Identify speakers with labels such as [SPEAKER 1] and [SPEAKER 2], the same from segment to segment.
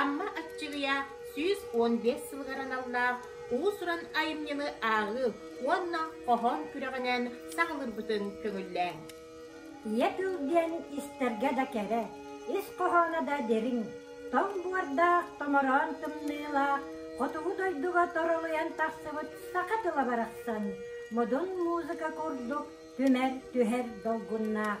[SPEAKER 1] Амма Аччыгыйа сүүс уон биэс сылыгар аналлаах уус-уран айымньыны ааҕыы уонна хоһоон күрэҕинэн саҕалыырбытын көҥүллээҥ. Ийэ тыл
[SPEAKER 2] диэн истэргэ да кэрэ, ис хоһооно да дириҥ, тоҥ буордаах, томороон тымныылаах, хотугу дойдуга торолуйан тахсыбыт саха тыла барахсан модун музыка курдук түмэр-түһэр долгуннаах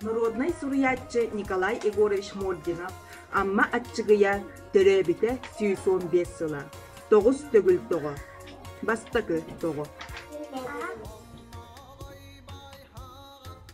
[SPEAKER 3] Народнай суруйааччы Николай Егорович Мординов Амма Аччыгыйа төрөөбүтэ сүүс уон биэс сыла. Тоҕус төгүл тоҕо. Бастакы тоҕо.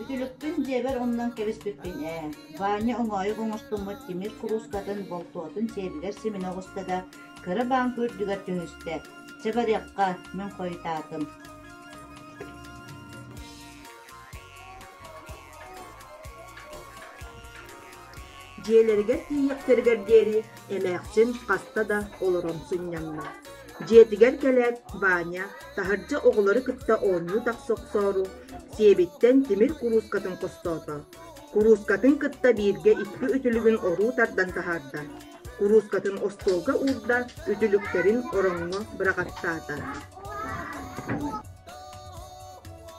[SPEAKER 4] Үтүлүкпүн дьиэбэр умнан кэбиспиппин ээ, Ваня оҥоойук оҥостуммут тимир куруускатын болтуотун сиэбигэр симинэ оҕуста да, кыра бааҥка үрдүгэр түһүстэ. Чэ барыахха, мин хойутаатым
[SPEAKER 3] Дьиэлэригэр тиийиэхтэригэр диэри эмээхсин хаста да олорон сынньанна. Дьиэтигэр кэлээт Ваня таһырдьа оҕолору кытта оонньуу тахса охсоору, сиэбиттэн тимир куруускатын хостоото. Куруускатын кытта бииргэ икки үтүлүгүн оруу тардан таһаарда. Куруускатын остуолга уурда, үтүлүктэрин ороҥҥо бырагаттаата.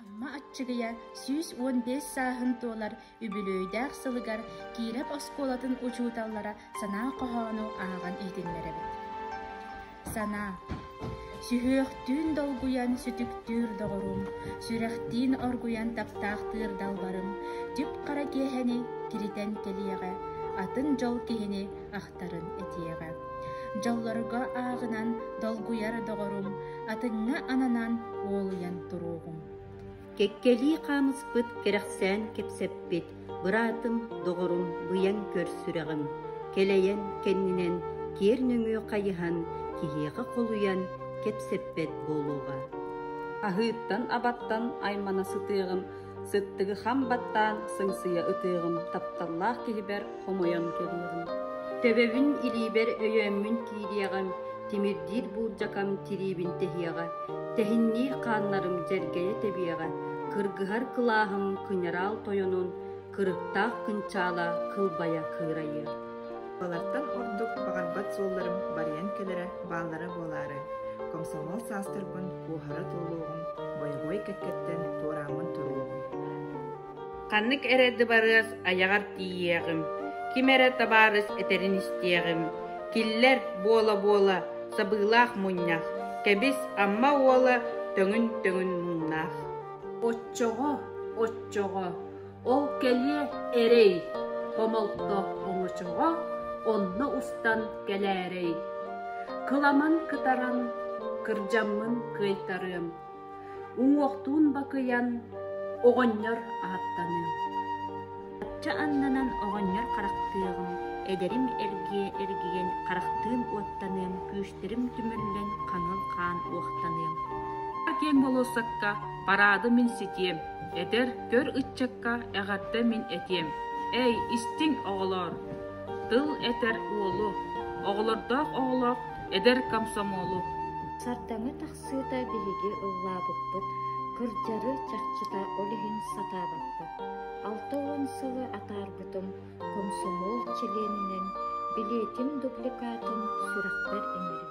[SPEAKER 5] Амма Аччыгыйа сүүс уон биэс сааһын туолар үбүлүөйдээх сылыгар Киирэп оскуолатын учууталлара санаа хоһоону ааҕан иһитиннэрэбит. Санаа Сүһүөхтүүн долгуйан сүтүктүүр доҕорум, сүрэхтиин оргуйан таптаахтыыр далбарым, түп-хара киэһэни киритэн кэлиэҕэ, атын дьол киһини ааптарын этиэҕэ. Дьоллорго ааҕынан долгуйар доҕорум, атыҥҥа ананан уолуйан туруоҕум.
[SPEAKER 6] Кэккэлии хаамыспыт, кэрэхсээн кэпсэппит быраатым, доҕорум, быйаҥ көр сүрэҕим, кэлэйэн кэннинэн киэр нөҥүө хайыһан киһиэхэ холуйан кэпсэппэт буолуоҕа. Аһыыттан-абаттан аймана сытыаҕым Сыттыгы хам баттаан сыҥсыйа ытыаҕым тапталлаах киһибэр хомойон кэбиэҕим Төбөбүн илиибэр өйөөммүн киириэҕим, тимирдиир буулдьакам тириибин тэһиэҕэ, тэһинниир хааннарым дьэргэйэ тэбиэҕэ, кыргыһар кылааһым кыньараал тойонун, кырыктаах кынчаала кылбайа кыырайыа. Балартан
[SPEAKER 3] ордук баҕарбат суолларым барыйан кэлэрэ бааллара буолаары, комсомол саастарбын куоһара туолуоҕун бойобуой кэккэттэн туорааммын туруоҕуҥ.
[SPEAKER 1] Ханнык эрэ дыбарыас айаҕар тиийиэҕим, ким эрэ табаарыс этэрин истиэҕим, киллэр буола-буола сабыылаах мунньах, кэбис Амма уола төҥүн-төҥүн муҥнаах. Оччоҕо,
[SPEAKER 7] оччоҕо Ол кэлиэ эрэй, хомолто оҥочоҕо онно устан кэлээрэй. Кыламан кытаран, кырдьаммын кыайтарыам. Уҥуохтуун бакыйан, оҕонньор ааттаныам.
[SPEAKER 6] Ачча аннанан оҕонньор харахтыаҕым, эдэрим эргиэ эргийэн харахтыын уоттаныам, күүстэрим түмүллэн хаҥыл хаан уохтаныам. Киэҥ
[SPEAKER 7] болуоссакка параады мин ситиэм. Этэр көр ыччакка эҕэрдэ мин этиэм Эй, истиҥ оҕолоор! Тыл этэр уолу, оҕолордоох оҕолоох эдэр комсомолу. Сардаҥа
[SPEAKER 2] тахсыыта биһиги ыллаабыппыт, кырдьары чахчыта ол иһин сатаабаппыт. Алта уон сылы атаарбытым комсомол чилиэнинэн, билиэтим дубликатын сүрэхпэр имэрим.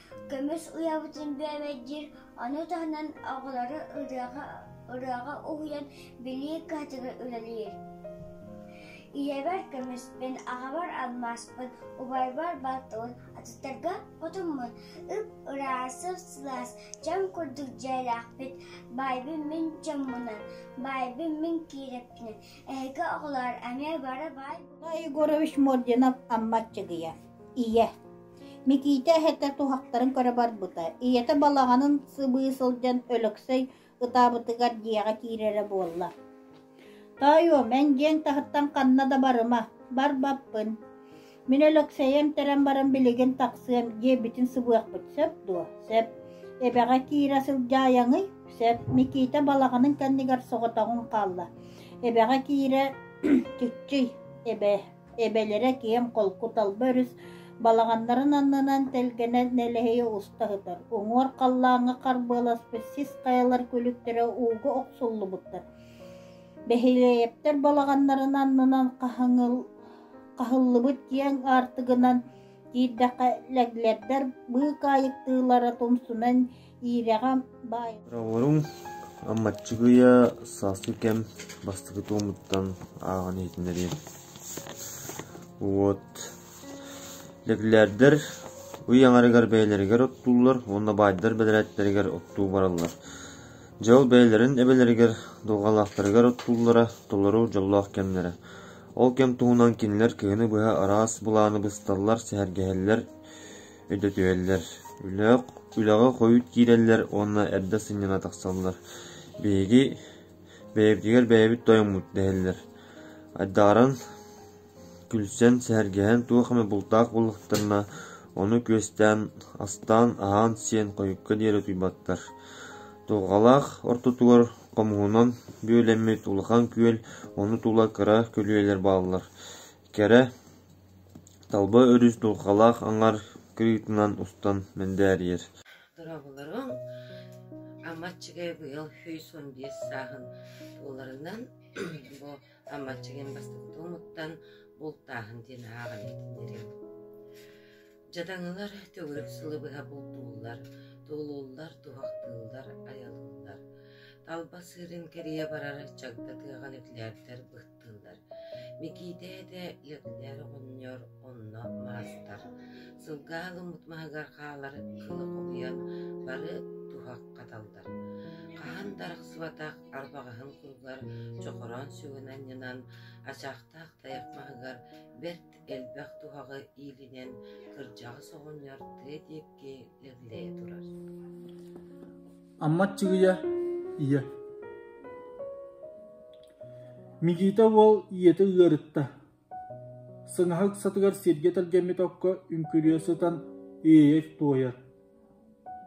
[SPEAKER 8] Көмүс уйабытын бүөмэйдиир, ону таһынан оҕолору ырыаҕа уһуйан билии кыһатыга үлэлиир. Ийэбэр көмүспүн, аҕабар алмааспын, убайбар балтыбын, атыттарга хотуммун, ып ыраасып сылаас, чаҥ курдук дьиэлээхпит, баайбын мин чоммунан, баайбын мин киирэппинэн, эһиги оҕолоор эмиэ бары баай. Егорович
[SPEAKER 4] Мординов Аммат Чыгыйа, ийэ Микиитэ эһэтэ туһахтарын көрө барбыта, ийэтэ балаҕанын сыбыы сылдьан Өлөксөй ытаабытыгар дьиэҕэ киирэрэ буолла. «Тоойуом, эн дьиэҥ таһыттан ханна да барыма, барбаппын. Мин Өлөксөйө эмтэрэн баран билигин тахсыам» диэбитин сыбыахпыт сөп дуо? Сөп. Эбэҕэ киирэ сылдьаайаҥый? Сөп. Микиитэ балаҕанын кэннигэр соҕотоҕун хаалла. Эбэҕэ киирэ «Чыччый, эбээ» эбэлэрэ киэм холку талба өрүс балаҕаннарын аннынан тэлгэнэн нэлэһийэ уста сытар уҥуор халлааҥҥа харбыаласпыт сис хайалар күлүктэрэ ууга охсуллубуттар бэһилиэйэптэр балаҕаннарын аннынан хаһыҥыл хаһыллыбыт киэҥ аартыгынан киирдэххэ лэглэрдэр быыкаайыктыылара тумсунан Иирэҕэ баай Бороҕоруҥ
[SPEAKER 9] Аммаччыгыйа сааскы кэм бастакы туомуттан ааҕан иһитиннэриим. Вот. Лэглээрдэр ый аҥарыгар бэйэлэригэр оттууллар уонна баайдар бэдэрээттэригэр оттуу бараллар. Дьэ ол бэйэлэрин эбэлэригэр долгалаахтарыгар оттууллара толору дьоллоох кэмнэрэ. Ол кэм туһунан кинилэр кыһыны быһа араас былааны бысталлар, сэһэргэһэллэр, Өйдөтүһэллэр, үлэҕэ хойут киирэллэр уонна эрдэ сынньана тахсаллар. «Биһиги бэйэбитигэр бэйэбит тойммут» дэһэллэр. Айдаҕыран, күлсэн, сэһэргэһэн туох эмэ бултаах буоллахтарына, ону күөстээн, астаан, аһаан-сиэн хойукка диэри утуйбаттар. Туоҕалаах ортотугар хомуһунан бүөлэммит улахан күөл, ону тула кыра көлүөлэр бааллар. Кэрэ Талба өрүс дулҕалаах аҥар кырыытынан устан мэндээрийэр Дорооболоруҥ,
[SPEAKER 10] Аммаччыгай быйыл сүүс уон биэс сааһын туоларынан бу Аммаччыгайын бастакы туомуттан бултааһын диэн ааҕан иһитиннэриэм. Дьадаҥылар төгүрүк сылы быһа бултууллар, туолуллар, туһахтыыллар, айалыыллар. Талба сыырын кэрийэ барар чагда тыаҕа нөкилээптэр быһтар кыттыылар. Микиитэ этэ Леонтьев оҕонньор, онно маастар. Сылга аһылыммыт маһыгар хаалар кылы хомуйан бары туһах хаталлар. Хаһан да арахсыбатах арбаҕаһын куругар чохороон сүгүн анньынан, ачаахтаах тайах маһыгар бэрт элбэх туһаҕы иилинэн кырдьаҕас оҕонньор тыа диэки Аммат
[SPEAKER 11] Чыгыйа ийэ Микиитэ уол ийэтэ ыарытта. Сыҥаһа ыксатыгар сиргэ тэлгэммит окко үҥкүрүйэ сытан иэйэ туойар.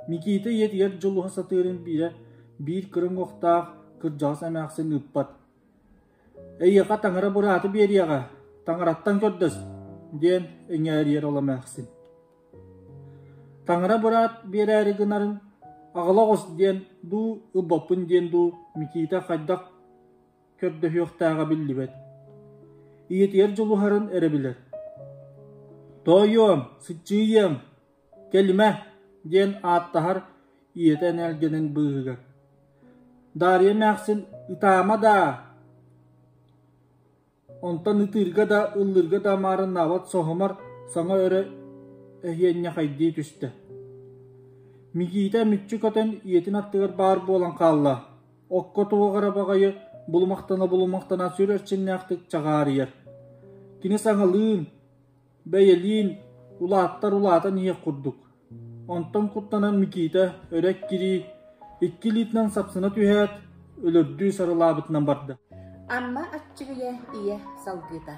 [SPEAKER 11] Микиитэ ийэтигэр дьулуһа сатыырын биирэ биир кырыҥ уохтаах кырдьаҕас эмээхсин ыппат. Эйиэхэ таҥара бырааты биэриэҕэ, таҥараттан көрдөс, – диэн иҥээриэр ол эмээхсин. Таҥара быраат биэрээри гынарын «Аҕала оҕус» диэн дуу, ылбаппын диэн дуу Микиитэ хайдах көрдөһүөхтээҕэ биллибэт. Ийэтигэр дьулуһарын эрэ билэр. «Тоойуом, сыччыйыам!» Кэлимэ, диэн ааттаһар ийэтэ энэлгэнин быыһыгар. Даарыйа эмээхсин «Ытаама даа!» Онтон ытыырга да, ыллыырга да амаарыннаабат соһумар саҥа өрө эһиэнньэхэйдии түстэ. Микиитэ мүччү көтөн ийэтин аттыгар баар буолан хаалла. Окко туох эрэ баҕайы булумахтана-булумахтана сүр эрчимнээхтик чаҕаарыйар. Кини саҥалыын Бэйэлиин, улааттар улаатан иһиэх курдук. Онтон куттанан Микиитэ өрө эккирии, икки илиитинэн сапсына түһээт, өлөрдүү сарылаабытынан барда. Амма
[SPEAKER 12] Аччыгыйа ийэ салгыыта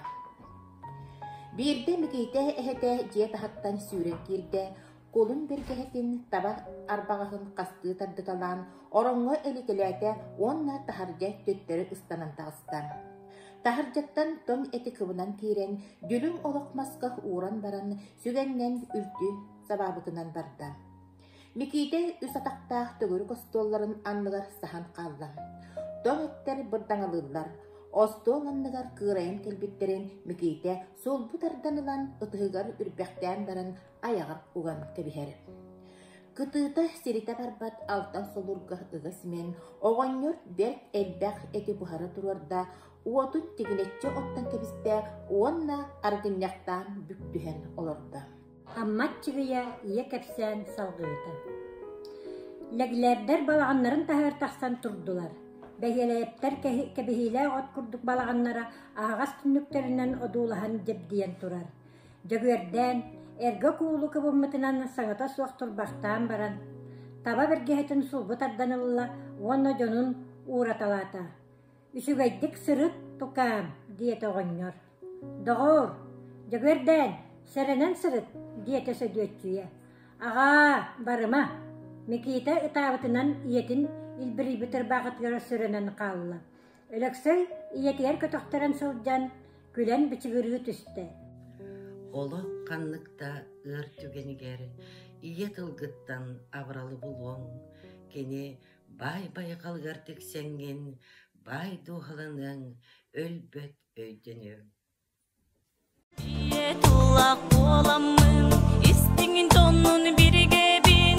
[SPEAKER 12] Биирдэ Микиитэ эһэтэ дьиэ таһыттан сүүрэн киирдэ кулун бэргэһэтин таба арбаҕаһын хастыы тардыталаан ороҥҥо илитилээтэ уонна таһырдьа төттөрү ыстанан таҕыста. Таһырдьаттан том эти кыбынан киирэн, дүлүҥ олох масках ууран баран, сүгэннэн үлтү сабаабытынан барда. Микиитэ үс атахтаах төгүрүк остуолларын анныгар саһан хаалла. Тоҥ эттэр бырдаҥалыыллар. Остуол анныгар кыырайан кэлбиттэрин Микиитэ суолбу тардан ылан ытыһыгар үрбэхтээн баран айаҕар уган кэбиһэр. Кытыыта сиритэ барбат алтан холуурга ыгас имэн, оҕонньор бэрт элбэх эти буһара туруорда, уотун тигинэччи оттон кэбистэ уонна арыгынньахтаан бүктүһэн олордо. Аммат Чыгыйа
[SPEAKER 13] ийэ кэпсээн салгыыта. Лэглээрдэр балаҕаннарын таһыгар тахсан турдулар. Бэһиэлэйэптэр кэбиһиилээх от курдук балаҕаннара аһаҕас түннүктэринэн одуулаһан дьэбдийэн турар. Дьөгүөрдээн, эргэ куулу кыбыммытынан саҥата суох турбахтаан баран, таба бэргэһэтин сулбу тардан ылла уонна дьонун уураталаата. «Үчүгэйдик сырыт, тукаам!» – диэтэ оҕонньор. «Доҕоор, Дьөгүөрдээн, сэрэнэн сырыт!» – диэтэ Сөдүөччүйэ. «Аҕаа, барыма!» Микиитэ ытаабытынан ийэтин илбирийбит ырбаахытыгар сөрөнөн хаалла. Өлөксөй ийэтигэр көтөхтөрөн сылдьан, күлэн бичигирыы түстэ. Олох
[SPEAKER 10] ханнык да ыар түгэнигэр ийэ тылгыттан абыралы булуоҥ, кини баай байҕалыгар тиксэҥҥин, баай дууһаланыаҥ, өлбөт өйдөнүөҥ. Ийэ тыллаах буоламмын, истиҥин тоннун биригэбин,